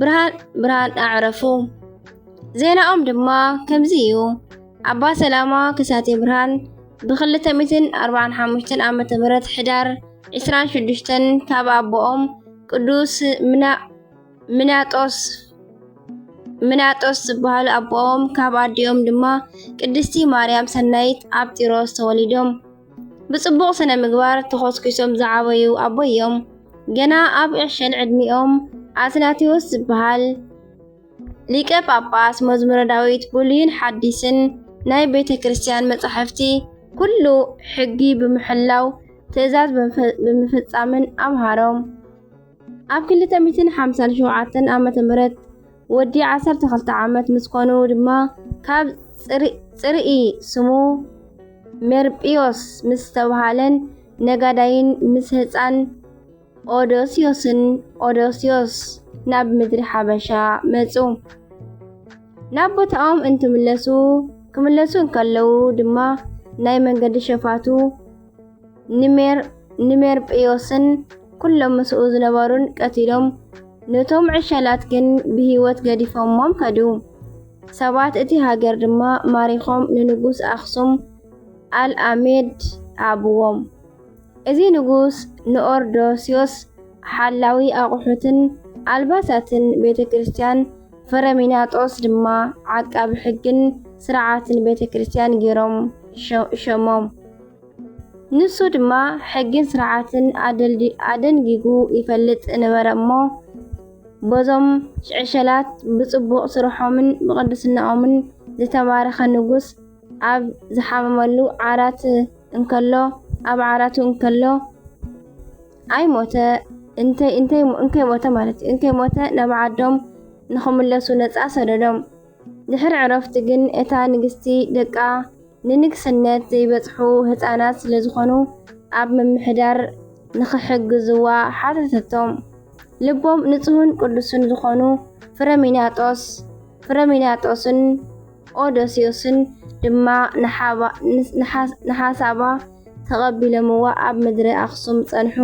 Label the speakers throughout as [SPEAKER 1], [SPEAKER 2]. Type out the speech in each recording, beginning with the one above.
[SPEAKER 1] ብርሃን ብርሃን ኣዕረፉ። ዜናኦም ድማ ከምዚ እዩ። ኣባ ሰላማ ክሳቴ ብርሃን ብ245 ዓ ም ሕዳር 26 ካብ ኣቦኦም ቅዱስ ምናጦስ ምናጦስ ዝበሃሉ ኣቦኦም ካብ ኣዲኦም ድማ ቅድስቲ ማርያም ሰናይት ኣብ ጢሮስ ተወሊዶም። ብጽቡቕ ስነ ምግባር ተኾስኲሶም ዝዓበዩ ኣቦይ እዮም። ገና ኣብ ዕሸል ዕድሚኦም ኣትናቴዎስ ዝበሃል ሊቀ ጳጳስ መዝሙረ ዳዊት ብሉይን ሓዲስን ናይ ቤተ ክርስቲያን መጻሕፍቲ ኩሉ ሕጊ ብምሕላው ትእዛዝ ብምፍጻምን ኣምሃሮም። ኣብ ክልተ ሚእትን ሓምሳን ሸውዓተን ዓመተ ምህረት ወዲ ዓሰርተ ክልተ ዓመት ምስ ኮኑ ድማ ካብ ጽርኢ ስሙ ሜርጵዮስ ምስ ዝተብሃለን ነጋዳይን ምስ ህፃን ኦዶስዮስን ኦዶስዮስ ናብ ምድሪ ሓበሻ መጹ። ናብ ቦታኦም እንትምለሱ ክምለሱ እንከለዉ ድማ ናይ መንገዲ ሸፋቱ ንሜርጵዮስን ኵሎም ምስኡ ዝነበሩን ቀቲሎም፣ ነቶም ዕሸላት ግን ብህይወት ገዲፎሞም ከዱ። ሰባት እቲ ሃገር ድማ ማሪኾም ንንጉስ ኣኽሱም ኣልኣሜድ ሃብዎም። እዚ ንጉስ ንኦርዶስዮስ ሓላዊ ኣቑሑትን ኣልባሳትን ቤተ ክርስቲያን፣ ፍረሚናጦስ ድማ ዓቃቢ ሕግን ስርዓትን ቤተ ክርስቲያን ገይሮም ሸሞም። ንሱ ድማ ሕግን ስርዓትን ኣደንጊጉ ይፈልጥ ነበረ እሞ በዞም ዕሸላት ብጽቡቕ ስርሖምን ብቕድስናኦምን ዝተባረኸ ንጉስ ኣብ ዝሓመመሉ ዓራት እንከሎ ኣብ ዓራቱ እንከሎ ኣይሞተ እንተይ እንተይ እንከይ ሞተ ማለት እዩ እንከይ ሞተ ናብ ዓዶም ንኽምለሱ ነጻ ሰደዶም ድሕሪ ዕረፍቲ ግን እታ ንግስቲ ደቃ ንንግስነት ዘይበጽሑ ህጻናት ስለዝኾኑ ኣብ ምምሕዳር ንኽሕግዝዋ ሓተተቶም። ልቦም ንጹህን ቅዱስን ዝኾኑ ፍረሚናጦስ ፍረሚናጦስን ኦዶስዮስን ድማ ንሓሳባ ተቐቢሎምዋ ኣብ ምድረ ኣኽሱም ጸንሑ።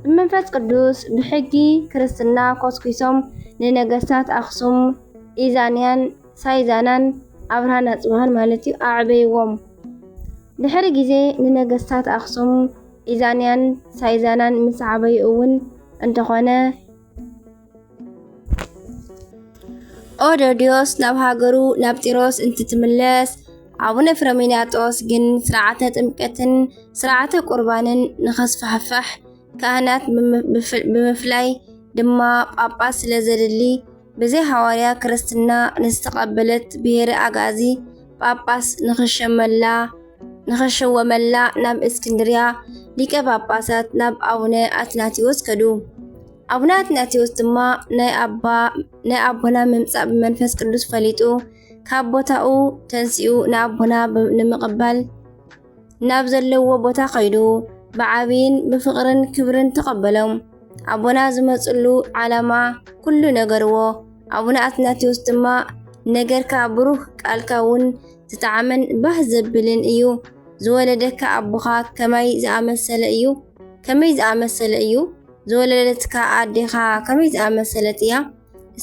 [SPEAKER 1] ብመንፈስ ቅዱስ ብሕጊ ክርስትና ኮስኲሶም ንነገስታት ኣኽሱም፣ ኢዛንያን፣ ሳይዛናን ኣብርሃን ኣጽብሃን ማለት እዩ፣ ኣዕበይዎም። ድሕሪ ግዜ ንነገስታት ኣኽሱም ኢዛንያን ሳይዛናን ምስ ዓበዩ እውን እንተኾነ፣ ኦዶድዮስ ናብ ሃገሩ ናብ ጢሮስ እንትትምለስ ኣቡነ ፍረሚናጦስ ግን ስርዓተ ጥምቀትን ስርዓተ ቁርባንን ንኸስፋሕፋሕ ካህናት ብምፍላይ ድማ ጳጳስ ስለ ዘድሊ ብዘይ ሃዋርያ ክርስትና ንዝተቐበለት ብሄረ ኣግኣዚ ጳጳስ ንኽሸመላ ንኸሸወመላ ናብ እስክንድርያ ሊቀ ጳጳሳት ናብ ኣቡነ ኣትናቴዎስ ከዱ። ኣቡነ ኣትናቴዎስ ድማ ናይ ኣባ ናይ ኣቦና ምምጻእ ብመንፈስ ቅዱስ ፈሊጡ ካብ ቦታኡ ተንሲኡ ንኣቦና ብ- ንምቕባል ናብ ዘለዎ ቦታ ከይዱ ብዓብይን ብፍቕርን ክብርን ተቐበሎም። ኣቦና ዝመፅሉ ዓላማ ኩሉ ነገርዎ። ኣቡነ ኣትናቴዎስ ድማ ነገርካ ብሩህ ቃልካ እውን ዝጠዓመን ባህ ዘብልን እዩ። ዝወለደካ ኣቦኻ ከማይ ዝኣመሰለ እዩ ከመይ ዝኣመሰለ እዩ ዝወለደትካ ኣዴኻ ከመይ ዝኣመሰለት እያ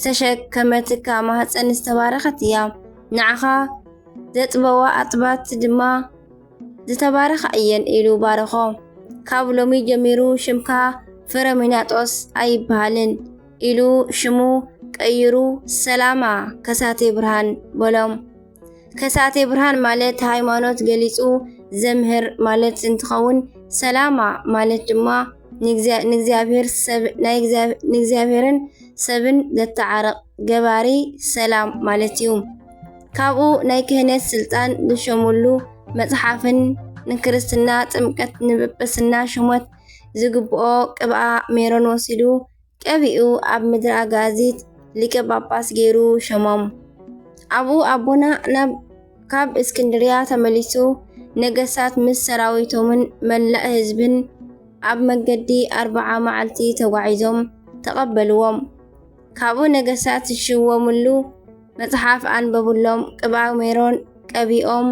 [SPEAKER 1] ዝተሸከመትካ ማህፀን ዝተባረኸት እያ። ንዓኻ ዘጥበዋ ኣጥባት ድማ ዝተባረኻ እየን ኢሉ ባረኾ። ካብ ሎሚ ጀሚሩ ሽምካ ፍረሚናጦስ ኣይበሃልን ኢሉ ሽሙ ቀይሩ ሰላማ ከሳቴ ብርሃን በሎም። ከሳቴ ብርሃን ማለት ሃይማኖት ገሊጹ ዘምህር ማለት እንትኸውን ሰላማ ማለት ድማ ንእግዚኣብሔር ሰብ ናይ ንእግዚኣብሔርን ሰብን ዘተዓርቕ ገባሪ ሰላም ማለት እዩ። ካብኡ ናይ ክህነት ስልጣን ዝሸሙሉ መጽሓፍን ንክርስትና ጥምቀት ንጵጵስና ሹመት ዝግብኦ ቅብኣ ሜሮን ወሲዱ ቀቢኡ ኣብ ምድሪ ኣጋዚት ሊቀ ጳጳስ ገይሩ ሸሞም። ኣብኡ ኣቦና ናብ ካብ እስክንድርያ ተመሊሱ ነገሳት ምስ ሰራዊቶምን መላእ ህዝብን ኣብ መገዲ ኣርብዓ መዓልቲ ተጓዒዞም ተቐበልዎም። ካብኡ ነገሳት ዝሽወምሉ መጽሓፍ ኣንበብሎም፣ ቅብኣ ሜሮን ቀቢኦም፣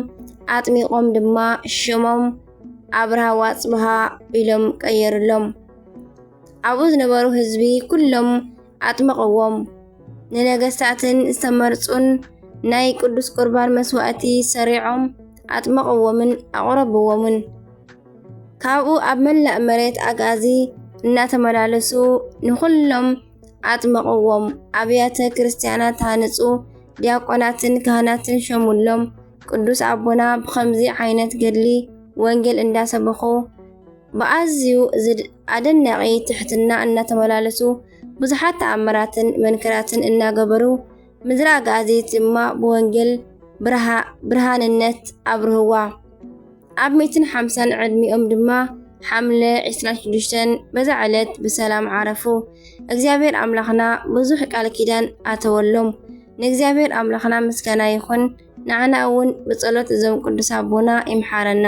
[SPEAKER 1] ኣጥሚቖም ድማ ሽሞም ኣብርሃ ዋጽብሃ ኢሎም ቀየርሎም። ኣብኡ ዝነበሩ ህዝቢ ኩሎም ኣጥመቕዎም። ንነገስታትን ዝተመርጹን ናይ ቅዱስ ቁርባን መስዋእቲ ሰሪዖም ኣጥመቕዎምን ኣቕረብዎምን። ካብኡ ኣብ መላእ መሬት ኣግኣዚ እናተመላለሱ ንኹሎም ኣጥመቕዎም። ኣብያተ ክርስቲያናት ሃንጹ፣ ዲያቆናትን ካህናትን ሸሙሎም። ቅዱስ ኣቦና ብኸምዚ ዓይነት ገድሊ ወንጌል እንዳሰበኹ ብኣዝዩ ኣደናቂ ትሕትና እናተመላለሱ ብዙሓት ተኣምራትን መንክራትን እናገበሩ ምድረ ኣጋዚት ድማ ብወንጌል ብርሃንነት ኣብርህዋ። ኣብ ሚእትን ሓምሳን ዕድሚኦም ድማ ሓምለ 26 በዛ ዕለት ብሰላም ዓረፉ። እግዚኣብሔር ኣምላኽና ብዙሕ ቃል ኪዳን ኣተወሎም። ንእግዚኣብሔር ኣምላኽና ምስጋና ይኹን። ንዓና እውን ብጸሎት እዞም ቅዱስ ኣቦና ይምሓረና።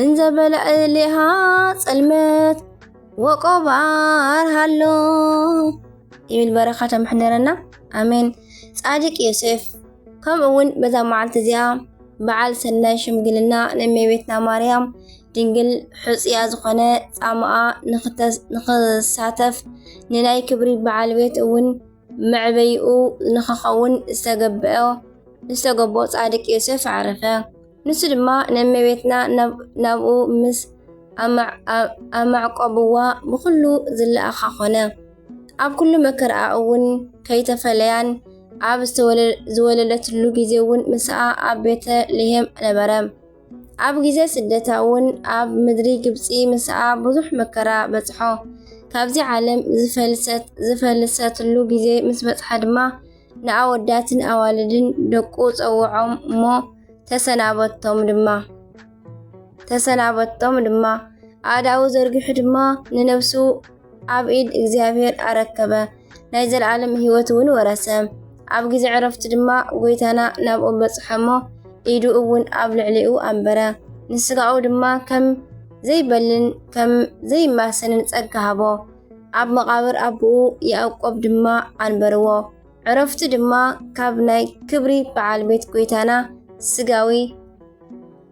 [SPEAKER 1] እንዘበለዕሌሃ ፅልመት ወቆባር ሃሎ ይብል በረካቶ ምሕደረና ኣሜን ፃድቅ ዮሴፍ ከምኡ እውን በዛ መዓልቲ እዚኣ በዓል ሰናይ ሽምግልና ንእመቤትና ማርያም ድንግል ሕፅያ ዝኾነ ፃማኣ ንክሳተፍ ንናይ ክብሪ በዓል ቤት እውን መዕበይኡ ንኸኸውን ዝተገብኦ ዝተገብኦ ጻድቅ ዮሴፍ ዓረፈ። ንሱ ድማ ነመቤትና ናብኡ ምስ ኣማዕቆብዋ ብኹሉ ዝለኣኻ ኾነ። ኣብ ኩሉ መከርኣ እውን ከይተፈለያን ኣብ ዝወለደትሉ ጊዜ እውን ምስኣ ኣብ ቤተ ልሔም ነበረ። ኣብ ግዜ ስደታ እውን ኣብ ምድሪ ግብጺ ምስኣ ብዙሕ መከራ በጽሖ። ካብዚ ዓለም ዝፈልሰት ዝፈልሰትሉ ግዜ ምስ በጽሓ ድማ ንኣወዳትን ኣዋልድን ደቁ ጸውዖም እሞ ተሰናበቶም ድማ ተሰናበቶም ድማ ኣእዳዉ ዘርጊሑ ድማ ንነብሱ ኣብ ኢድ እግዚኣብሔር ኣረከበ፣ ናይ ዘለዓለም ሕይወት እውን ወረሰ። ኣብ ጊዜ ዕረፍቲ ድማ ጐይታና ናብኡ በጽሐ እሞ ኢዱ እውን ኣብ ልዕሊኡ ኣንበረ፣ ንሥጋኡ ድማ ከም ዘይበልን ከም ዘይማሰንን ጸጋ ሃቦ። ኣብ መቓብር ኣቦኡ ያዕቆብ ድማ ኣንበርዎ። ዕረፍቲ ድማ ካብ ናይ ክብሪ በዓል ቤት ጐይታና ሥጋዊ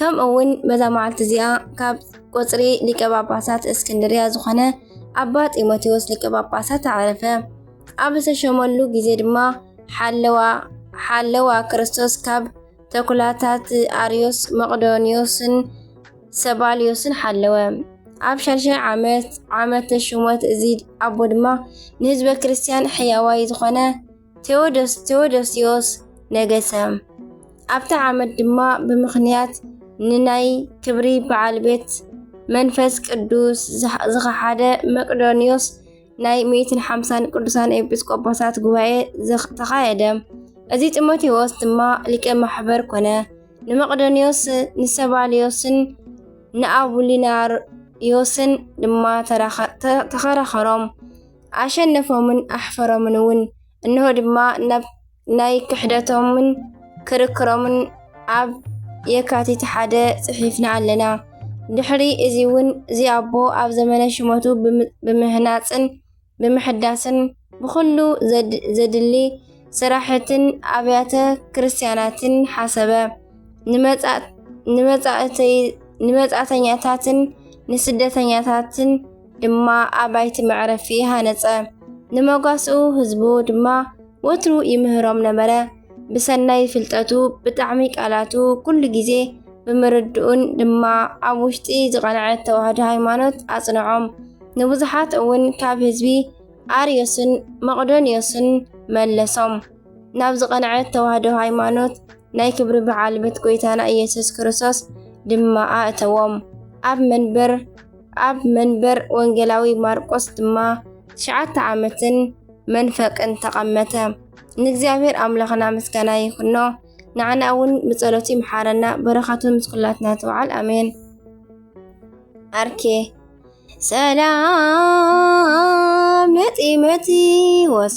[SPEAKER 1] ከምኡ እውን በዛ መዓልቲ እዚኣ ካብ ቁፅሪ ሊቀ ጳጳሳት እስክንድርያ ዝኾነ ኣባ ጢሞቴዎስ ሊቀ ጳጳሳት ኣዕረፈ። ኣብ ዝተሸመሉ ግዜ ድማ ሓለዋ ሓለዋ ክርስቶስ ካብ ተኩላታት ኣርዮስ መቅዶንዮስን ሰባልዮስን ሓለወ። ኣብ ሻድሻይ ዓመት ዓመተ ሹመት እዚ ኣቦ ድማ ንህዝበ ክርስቲያን ሕያዋይ ዝኾነ ቴዎዶስ ቴዎዶስዮስ ነገሰ። ኣብቲ ዓመት ድማ ብምኽንያት ንናይ ክብሪ በዓል ቤት መንፈስ ቅዱስ ዝኸሓደ መቅዶንዮስ ናይ ሚእትን ሓምሳን ቅዱሳን ኤጲስቆጶሳት ጉባኤ ተኻየደ። እዚ ጢሞቴዎስ ድማ ሊቀ ማሕበር ኮነ። ንመቅዶንዮስ ንሰባልዮስን ንኣቡሊናርዮስን ድማ ተኸራኸሮም። ኣሸነፎምን ኣሕፈሮምን እውን እንሆ ድማ ናብ ናይ ክሕደቶምን ክርክሮምን ኣብ የካቲት ሓደ ጽሒፍና ኣለና። ድሕሪ እዚ እውን እዚ ኣቦ ኣብ ዘመነ ሽመቱ ብምህናፅን ብምሕዳስን ብኩሉ ዘድሊ ስራሕትን ኣብያተ ክርስቲያናትን ሓሰበ። ንመጻእተኛታትን ንስደተኛታትን ድማ ኣባይቲ መዕረፊ ሃነጸ። ንመጓስኡ ህዝቡ ድማ ወትሩ ይምህሮም ነበረ። ብሰናይ ፍልጠቱ ብጣዕሚ ቃላቱ ኩሉ ግዜ ብምርድኡን ድማ ኣብ ውሽጢ ዝቐንዐት ተዋህዶ ሃይማኖት ኣጽንዖም። ንብዙሓት እውን ካብ ህዝቢ ኣርዮስን መቕዶንዮስን መለሶም። ናብ ዝቐንዐት ተዋህዶ ሃይማኖት ናይ ክብሪ በዓል ቤት ጎይታና ኢየሱስ ክርስቶስ ድማ ኣእተዎም። ኣብ መንበር ኣብ መንበር ወንጌላዊ ማርቆስ ድማ ትሽዓተ ዓመትን መንፈቅን ተቐመተ። ንእግዚኣብሔር ኣምላኽና ምስጋና ይኹኖ፣ ንዓና እውን ብጸሎቱ ይምሓረና፣ በረኸቱ ምስ ኩላትና ትውዓል፣ ኣሜን። ዓርኬ ሰላም ነፂመቲ ወስ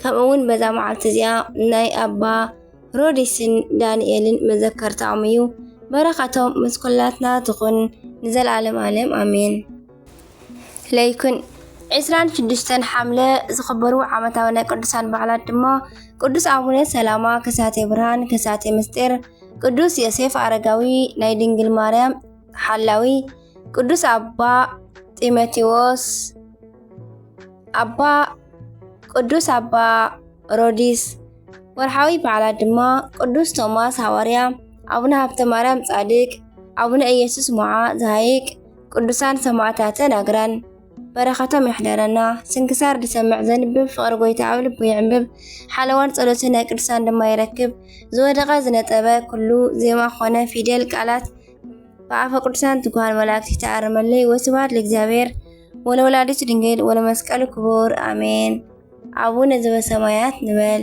[SPEAKER 1] ከምኡ እውን በዛ መዓልቲ እዚኣ ናይ ኣባ ሮዲስን ዳንኤልን መዘከርታኦም እዩ በረኸቶም ምስ ኩላትና ትኹን ንዘለኣለም ኣለም ኣሜን ለይኩን 26 ሓምለ ዝኽበሩ ዓመታዊ ናይ ቅዱሳን በዓላት ድማ ቅዱስ ኣቡነ ሰላማ ከሳቴ ብርሃን ከሳቴ ምስጢር ቅዱስ ዮሴፍ ኣረጋዊ ናይ ድንግል ማርያም ሓላዊ ቅዱስ ኣባ ጢሞቴዎስ ኣባ ቅዱስ ኣባ ሮዲስ ወርሓዊ በዓላት ድማ ቅዱስ ቶማስ ሃዋርያ፣ ኣቡነ ሃብተ ማርያም ጻድቅ፣ ኣቡነ ኢየሱስ ሞዓ ዘሃይቅ፣ ቅዱሳን ሰማዕታተ ናግራን በረኸቶም ይሕደረና። ስንክሳር ዝሰምዕ ዘንብብ ፍቕሪ ጎይታ ኣብ ልቡ ይዕምብብ፣ ሓለዋን ጸሎትን ናይ ቅዱሳን ድማ ይረክብ። ዝወደቐ ዝነጠበ ኩሉ ዜማ ኮነ ፊደል ቃላት ብኣፈ ቅዱሳን ትጉሃን መላእክት ይተኣረመለይ። ወስብሐት ለእግዚአብሔር ወለወላዲቱ ድንግል ወለመስቀሉ ክቡር አሜን። አቡነ ዘበሰማያት ንበል።